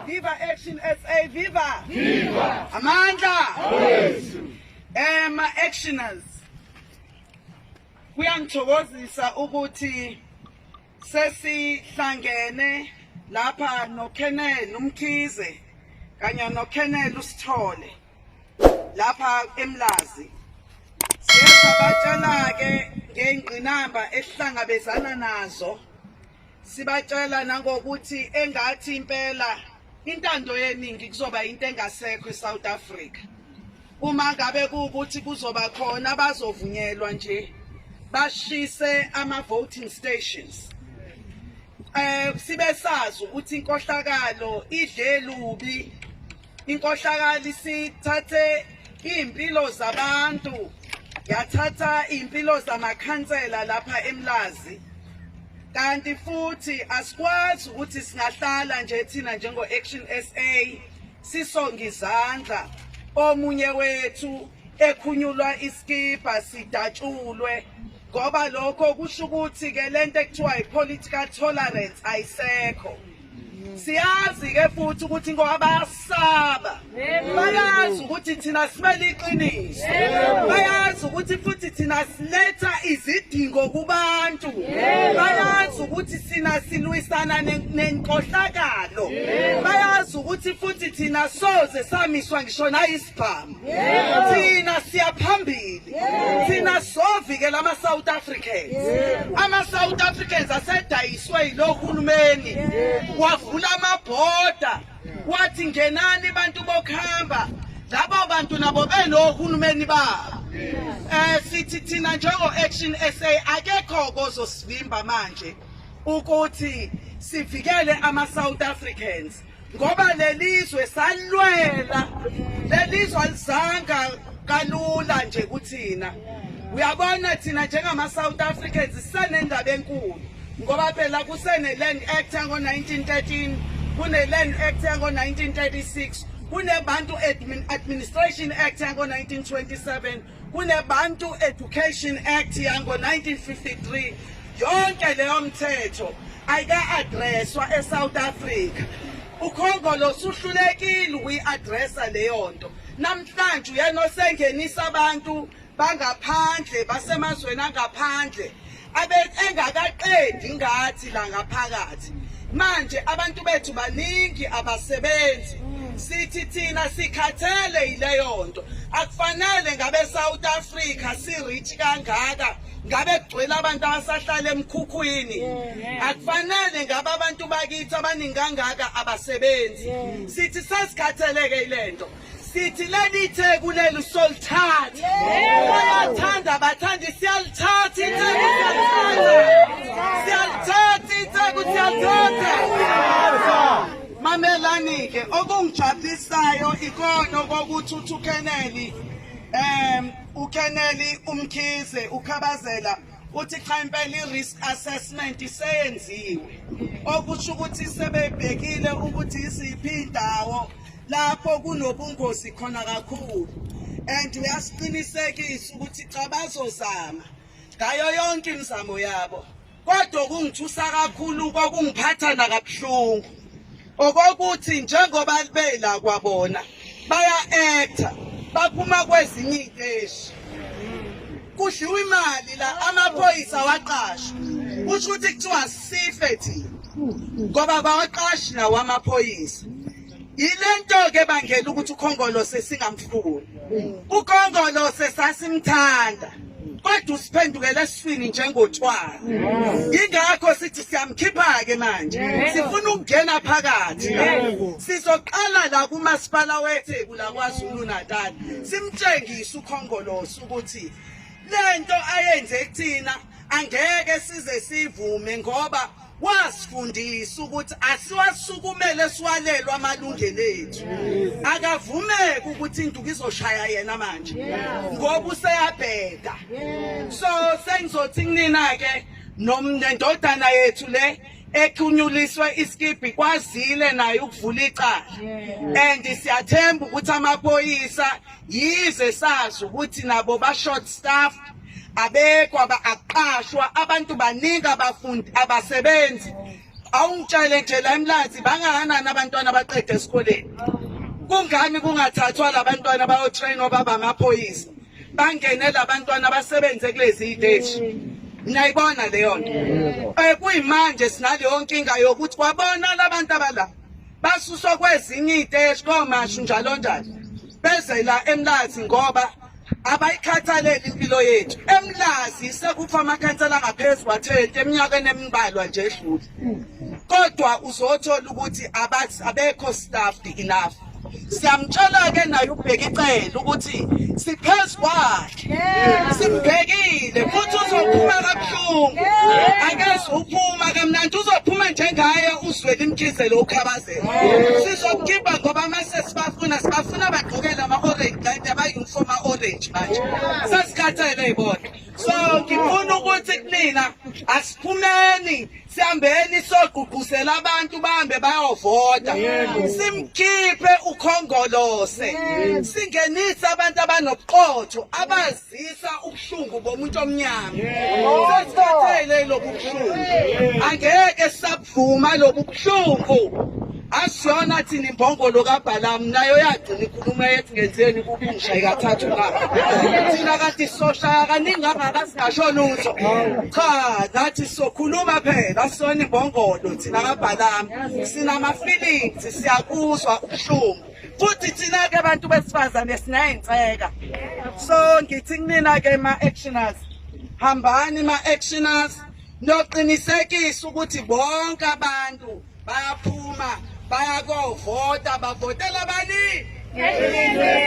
Viva Action SA Viva Viva Amandla Yes Eh ma actioners Kuyangithokozisa ukuthi sesihlangene lapha no Kenel umkhize kanye no Kenel usithole lapha eMlazi Siyabatshela ke ngengqinamba esihlangabezana nazo Sibacela nangokuthi engathi impela intando yeningi kuzoba into engasekho eSouth Africa. Uma ngabe kuukuthi kuzoba khona abazovunyelwa nje bashise ama voting stations. Eh sibe sazi ukuthi inkohlakalo idle lubi Inkohlakali sithathe iy'mpilo zabantu yathatha iy'mpilo zamakhansela lapha emlazi kanti futhi asikwazi ukuthi singahlala nje thina njengo-action sa sisonge izandla omunye wethu ekhunyulwa isikibha sidatshulwe ngoba lokho kusho ukuthi-ke le nto ekuthiwa yi-political tolerance ayisekho siyazi-ke futhi ukuthi ngoba bayasaba bayazi ukuthi thina simele iqiniso bayazi ukuthi futhi thina siletha izidingo kubantu bayazi ukuthi thina silwisana nenkohlakalo bayazi ukuthi futhi thina soze samiswa ngisho Farm. Thina siya phambili. Thina sovikela ama South Africans. Ama South Africans asedayiswe yilohulumeni. Wavula amabhoda. Wathi ngenani bantu bokuhamba. Laba bantu nabo belohulumeni babo. Eh sithi thina njengo Action SA akekho kozosivimba manje ukuthi sivikele ama South Africans. ngoba lelizwe salwela lelizwe alizanga kalula nje kuthina uyabona thina njengama South Africans sisenendaba enkulu ngoba phela kusene land act yango 1913 kune land act yango 1936 kunebantu administration act yango 1927 kuneBantu Education Act yango-1953 yonke leyo mthetho ayika-adreswa eSouth Africa ukhongolo suhlulekile ukuyi-adresa leyo nto namhlanje uyena osengenisa abantu bangaphandle basemazweni angaphandle engakaqedi ngathi la ngaphakathi manje abantu bethu baningi abasebenzi sithi thina sikhathele yileyo nto akufanele ngabe South Africa si rich kangaka ngabe kugcwele abantu abasahlala emkhukhwini akufanele ngabe abantu bakithi abaningi kangaka abasebenzi sithi sesikhatheleke ilento sithi leli itheku leli usolithatha bayathanda bathanda siyalithatha itheku siyalithatha itheku siyalithatha mamelani-ke okungijabulisayo ikona kokuthi uthi ukeneli um ukeneli umkhize ukhabazela uthi cha impela i-risk assessment iseyenziwe okusho ukuthi sebebhekile ukuthi iziphi indawo lapho kunobungozi khona kakhulu and uyasiqinisekisa ukuthi cha bazozama ngayo yonke imizamo yabo kodwa okungithusa kakhulu kokungiphatha nakabuhlungu okokuthi njengoba bela kwabona baya actor baphuma kwezinye iy'teshi kudliwa imali la amaphoyisa waqashwa kusho ukuthi kuthiwa sife thina ngoba bawaqashi nawo amaphoyisa yilento-ke bangela ukuthi ukhongolose singamfuni ukhongolose sasimthanda kodwa usiphendukela esifini njengothwala ingakho sithi siyamkhipha-ke manje sifuna ukungena phakathi sizoqala la kumasipala wetheku lakwazulu natal simtshengise ukhongolosi ukuthi le nto ayenze kuthina angeke size sivume ngoba wasifundisa ukuthi asiwasukumele siwalelwe amalungelo ethu akavumeki ukuthi induku izoshaya yena manje ngoba useyabheka so sengizothi kunina-ke nendodana yethu le ekhunyuliswe iskibhi kwazile naye ukuvula icala and siyathemba ukuthi amaphoyisa yize sazi ukuthi nabo ba-short staff abekho aqashwa abantu baningi abafundi abasebenzi awungitshele nje la emlazi bangakanani abantwana abaqeda esikoleni kungani kungathathwa labantwana bayotrainwa baba amaphoyisa bangene labantwana basebenze kulezi iteshi niyayibona leyo nto eh, kuyimanje sinaleyo nkinga yokuthi kwabona labantu abala basuswa kwezinye iy'teshi komashu njalo njalo beze la emlazi ngoba abayikhathaleli impilo yethu emlazi sekufa amakhansela angaphezu kwathenti eminyakeni embalwa nje edlule kodwa uzothola ukuthi abekho staffed enough siyamtshela-ke naye ubheka icele ukuthi siphezu kwakhe simbhekile futhi uzophuma kabuhlungu akeze uphuma kamnandi uzophuma njengaye uzwele imkhize lo ukhabazela sizokukimba ngoba mase sibafuna sibafuna bagqokele ama-orange kanti abayunifomu a-orange manje sesikhathele yibona so ngifuna ukuthi kunina asiphumeni sihambeni sogqugquzela abantu bahambe bayovota simkhiphe ukhongolose singenise abantu abanobuqotho abazisa ubuhlungu bomuntu omnyama sesithathele lobu buhlungu angeke sabuvuma lobu buhlungu Asiyona thina imbongolo kaBhalamu nayo yagcina ikhuluma yethi ngenzeni kubi ngishaye kathathu na. Thina kanti soshaya kaningi kangaka singasho lutho. Cha nathi sokhuluma phela asiyona imbongolo thina kaBhalamu. Sinama feelings siyakuzwa ubuhlungu. Futhi thina ke abantu besifazane sinayintseka. So ngithi kunina ke ma actioners hambani ma actioners noqinisekisa ukuthi bonke abantu bayaphuma bayakovota bavotela bani